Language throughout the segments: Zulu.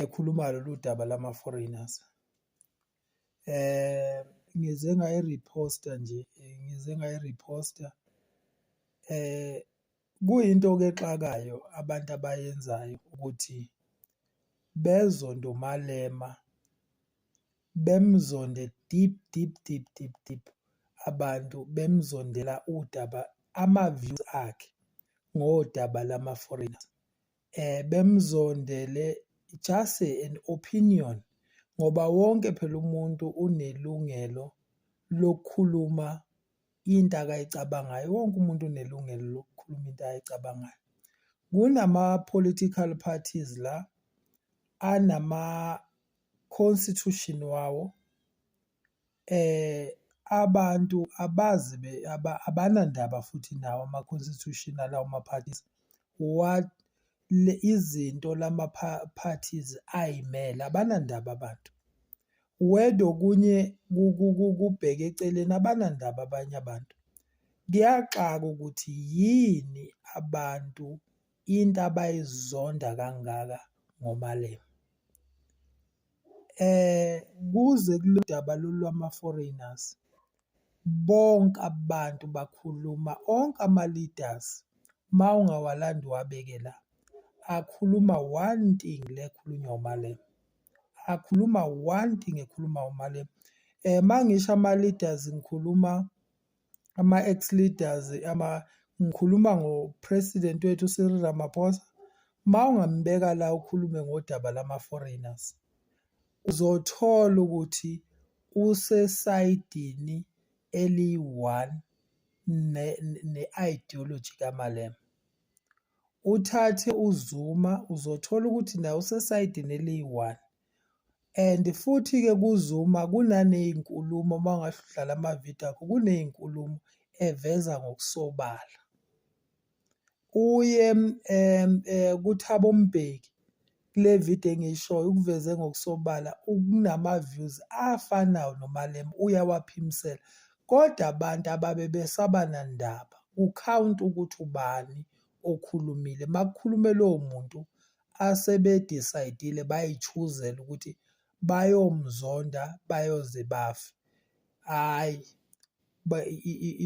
ekhuluma lolu daba lama-foreigners eh ngize ngayi-reposta nje ngize ngayi-reposta eh kuyinto ke exakayo abantu abayenzayo ukuthi bezonto malema bemzonde deep deep deep deep deep abantu bemzondela udaba ama-views akhe ngodaba lama-foreigners eh bemzondele just an opinion ngoba wonke phela umuntu unelungelo lokukhuluma into akayicabangayo wonke umuntu unelungelo lokukhuluma into ayicabangayo kunama political parties la anama constitution wawo eh abantu abazi abanandaba futhi nawo ama-constitutional lawo ma-parties what le izinto lama-parties ayimele abanandaba abantu wede okunye kubheke eceleni abanandaba abanye abantu kuyaxaka ukuthi yini abantu into abayizonda kangaka ngoMalema. Eh kuze kuludaba lolwama foreigners bonke abantu bakhuluma onke ama leaders mawungawalandi uwabeke la akhuluma one thing le ekhulunywa uMalema. Akhuluma one thing ekhuluma uMalema. Eh mangisho ama leaders ngikhuluma ama-ex-leaders ama ngikhuluma ngo-president wethu uCyril Ramaphosa uma ungambeka la ukhulume ngodaba lama-foreigners uzothola ukuthi usesayidini eliyi-one ne-ideology kaMalema. Uthathe uZuma uzothola ukuthi naye usesayidini eliyi-one And futhi-ke kuZuma kunaney'nkulumo uma ungahle udlale amavidiyo akho, kuney'nkulumo eveza ngokusobala. Uye um eh, kuThabo Mbeki kule vidiyo engiyishoyo ukuveze ngokusobala ukunama-views afanayo noMalema uyawaphimisela. Kodwa abantu ababe besaba nandaba, kukhawunta ukuthi ubani okhulumile. Uma kukhulume lowo muntu asebedisayidile bayichuzela ukuthi bayomzonda bayoze bafe hhayi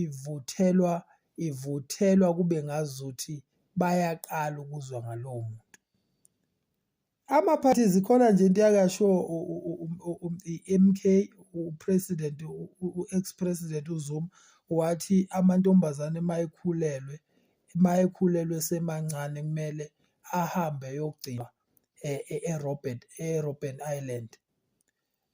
ivuthelwa ivuthelwa kube ngazuthi bayaqala ukuzwa ngalowo muntu amaphathi zikhona nje into yakasho i-mk upresident u-ex president uzuma wathi amantombazane uma ekhulelwe uma ekhulelwe esemancane kumele ahambe eyogcinwa e-, e-, e-Robert e-Robben Island.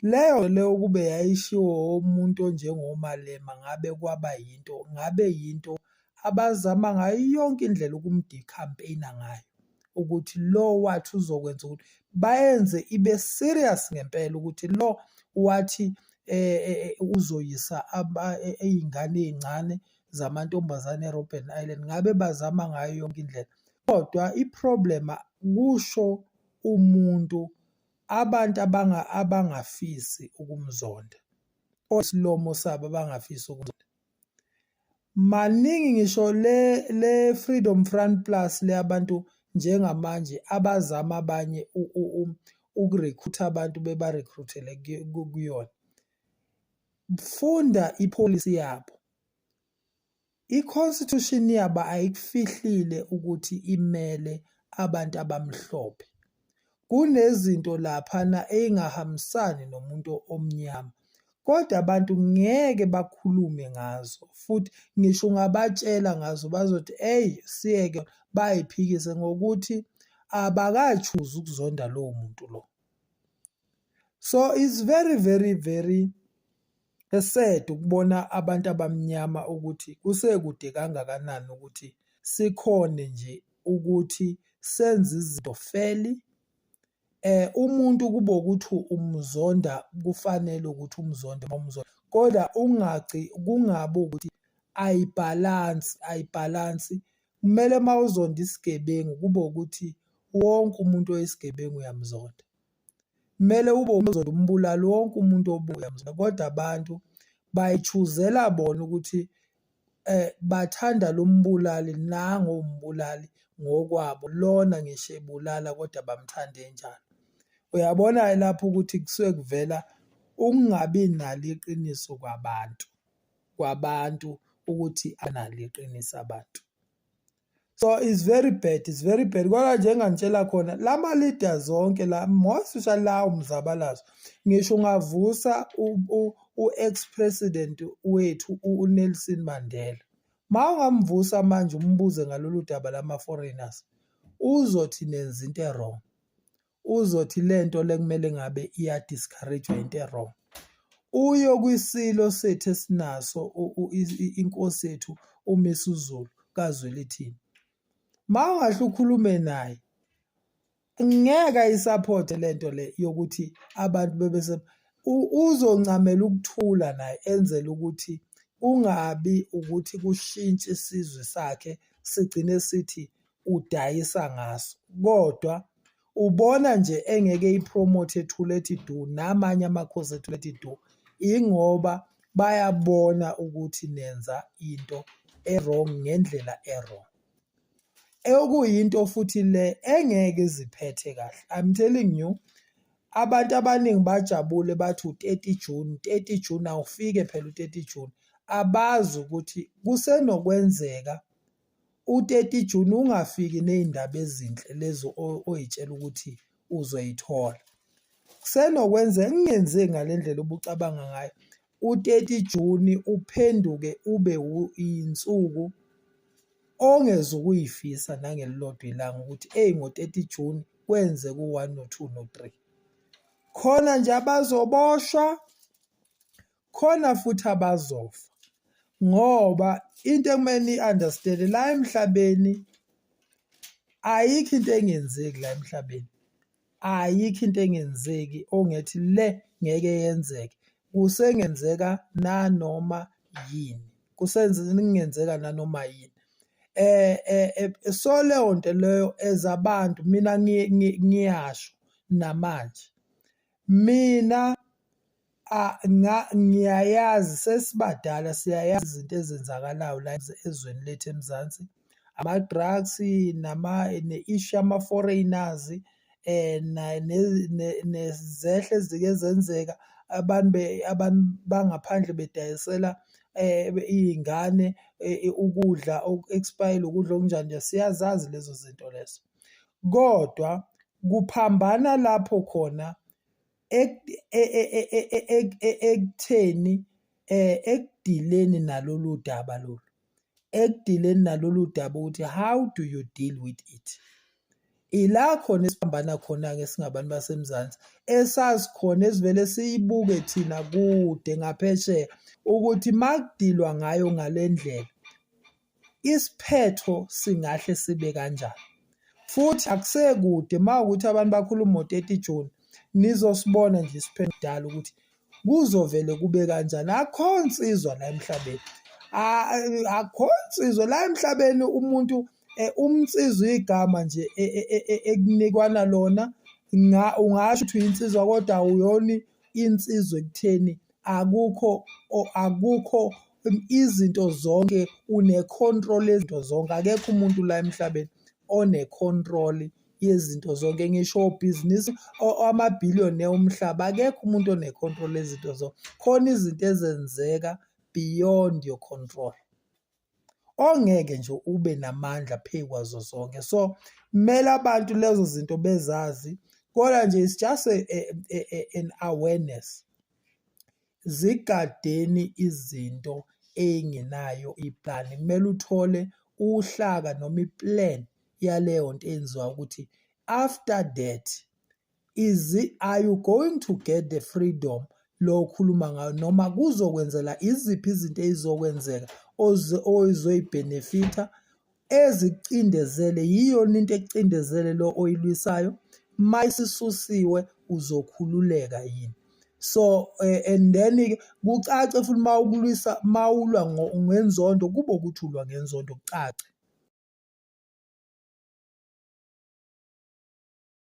Leyo leyo ukube yayishiwo umuntu onjengoMalema ngabe kwaba yinto ngabe yinto abazama ngayo yonke indlela ukumdi-campaign-a ngayo ukuthi lo wathi uzokwenza ukuthi bayenze ibe serious ngempela ukuthi lo wathi eh, eh, eh uzoyisa iy'ngane ey'ncane zamantombazane eRobben Island ngabe bazama ngayo yonke indlela kodwa i-problem kusho umuntu abantu abanga abangafisi ukumzonda osilomo sabo abangafisi ukumzonda maningi ngisho le le Freedom Front Plus le abantu njengamanje abazama abanye ukurecruit abantu bebarecruitele kuyona Funda ipolicy yabo. I-constitution yabo ayikufihlile ukuthi imele abantu abamhlophe. Kunezinto laphana ey'ngahambisani nomuntu omnyama. Kodwa abantu ngeke bakhulume ngazo futhi ngisho ungabatshela ngazo bazothi eyi siyeke bay'phikise ngokuthi abakatshuzi ukuzonda lowo muntu lo. so it's very very very esed ukubona abantu abamnyama ukuthi kusekude kangakanani ukuthi sikhone nje ukuthi senze izinto feli eh umuntu kubo ukuthi umzonda kufanele ukuthi umzonde umzonda kodwa ungagci kungabe ukuthi ayibhalansi ayibhalansi kumele mawuzonda isigebengu kube ukuthi wonke umuntu oyisigebengu uyamzonda Kumele ube uzothi umbulali wonke umuntu obuya mzala kodwa abantu bayichuzela bona ukuthi eh bathanda lo mbulali nango umbulali ngokwabo lona ngisho ebulala kodwa bamthande njalo. Uyabona lapho ukuthi kusuke kuvela ukungabi nalo iqiniso kwabantu, kwabantu ukuthi analo iqiniso abantu. so it's very bad it's very bad kwala nje engangitshela khona la ma-leader zonke la most especially lawo mzabalazo ngisho ungavusa u-ex president wethu unelson mandela ma ungamvusa manje umbuze ngalolu daba lama-foreigners uzothi nenza into erong uzothi lento lekumele ngabe iya discourage into ewrong uyo kwisilo sethu esinaso inkosi yethu uMisuzulu kaZwelithini mawungahle ukhulume naye ngeke ayisupport lento le yokuthi abantu bebese uzoncamela ukuthula naye enzela ukuthi kungabi ukuthi kushintshe isizwe sakhe sigcine sithi udayisa ngaso kodwa ubona nje engeke ipromote ethule ethi du namanye amakhosi ethule ethi du ingoba bayabona ukuthi nenza into e-wrong ngendlela e-wrong. Okuyinto futhi le engeke iziphethe kahle. I'm telling you abantu abaningi bajabule bathi u-thirty June, thirty June awufike phela u-thirty June. Abazi ukuthi kusenokwenzeka u-30 June ungafiki nezindaba ezinhle lezi oyitshela ukuthi uzoyithola. Kusenokwenzeka kungenzeki ngale ndlela obucabanga ngayo, u-30 June uphenduke ube yinsuku ongeze ukuyifisa nangelilodwa ilanga ukuthi eyi ngo-30 June kwenzeka u-one no-two no-three. Khona nje abazoboshwa, khona futhi abazofa ngoba into ekumele niyi-understand-e la emhlabeni ayikho into engenzeki la emhlabeni ayikho into engenzeki ongethi le ngeke yenzeke kusengenzeka nanoma yini kusengenzeka nanoma yini eh, eh, eh so leyo nto leyo as abantu mina ngiyasho namanje mina Ah, nga- ngiyayazi sesibadala siyayazi izinto ezenzakalayo la ez- ezweni lethu emzansi ama-drugs nama ne-issue yama-foreigners um nezehle ezike zenzeka abantu be- abantu bangaphandle bedayisela um iy'ngane eh, ukudla oku-expayile ukudla okunjani nje siyazazi lezo zinto lezo kodwa kuphambana lapho khona ekutheni eh ekudileni nalolu daba lolu ekudileni nalolu daba ukuthi how do you deal with it ila khona esiphambana khona-ke singabantu basemzansi esazi khona esivele siyibuke thina kude ngaphesheya ukuthi makudilwa ngayo ngale ndlela isiphetho singahle sibe kanjani futhi akusekude uma ukuthi abantu bakhuluma ngo-30 June nizosibona nje isiphendalo ukuthi kuzovele kube kanjani akho nsizwa la emhlabeni akho nsizwa la emhlabeni umuntu eh, umnsizwa igama nje e, e, e, ekunikwana lona ungasho ukuthi uyinsizwa kodwa awuyoni insizwa ekutheni akukho akukho izinto zonke une-control yezinto zonke akekho umuntu la emhlabeni one-control yezinto zonke ngisho obhizinisi amabhiliyoni omhlaba akekho umuntu one-control yezinto zonke khona izinto ezenzeka beyond your control ongeke nje ube namandla phezu kwazo zonke so kumele abantu lezo zinto bezazi kodwa nje it's just a, a, a, a, an awareness zigadeni izinto eyingenayo iplan kumele uthole uhlaka noma iplan yaleyo nto enziwa ukuthi after that is are you going to get the freedom lo okhuluma ngayo noma kuzokwenzela iziphi izinto ezizokwenzeka ozoyibhenefitha ezicindezele yiyona into ekucindezele lo oyilwisayo uma isisusiwe uzokhululeka yini so eh, and then kucace futhi uma ukulwisa uma ulwa ngenzondo kube ukuthi ulwa ngenzondo kucace